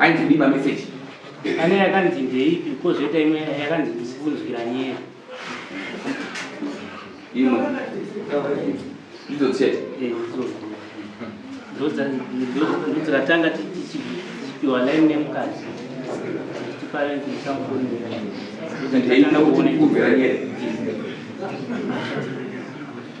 Ainzi ndii ma message? Pane yakanzi ndeipi kozoita imwe yakanzi ndisikunzwira nyere. Imwe. Ndidzo chete. Eh, ndodzakatanga tichipiwa line nemukadzi tiparenti ndisamufonera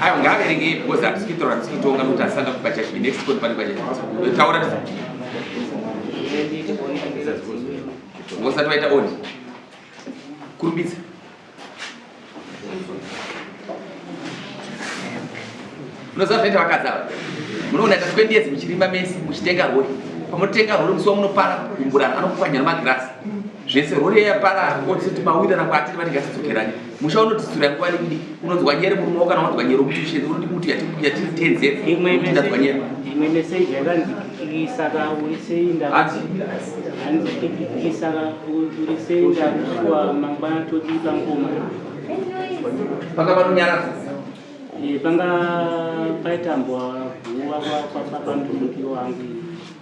Ayo ngaaverenge because hatisi kuitaura hatisi kutonga nokuti asanga kupa church next code pane kwacha taura ngosati waita on kurumbidza unoziva zvinoita vakadzi ava munoona ita 20 years muchirima mese muchitenga rori pamotenga rori musi wamunopara kumburana anokupwanya nemagirasi zvese rori yapara otiti mawira rangu atiri vanenge asitsokerani musha unodzitsura nguva diki diki unonzwa nyere murume wo kana wanzwa nyere kuti shezi unoti kuti yati yati tenze imwe imwe unonzwa nyere imwe message yakanzi kikisa ka uri seinda hanzi hanzi kikisa ka uri seinda kusuwa mangwana toti pangoma panga panonyaradza Eh, panga paitambwa guva kwa kwa- kwa- pamudhudhukiro wangu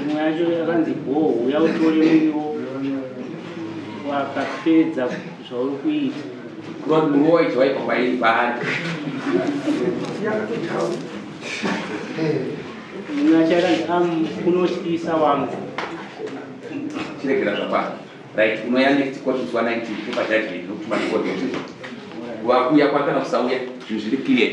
imwe yacho yakanzi bhoo uya utore muriwo wakapedza zvauri kuita kuroti muriwo waiti waipa kwairi paari imwe yacho yakanzi am unotyisa wangu chiregera zvapa right imwe ya next court zuva 19 kupa judgment nokutuma record wakuya kwakana kusauya zvinhu zviri clear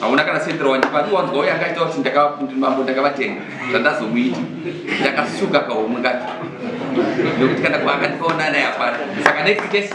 hauna kana sentero wandipa ndiwanzwa uye angaita kuti ndakabambo ndakavatenga zvandazomuita ndakasuka kahomwe kati nekuti kana kuakandipaona naye hapana saka next case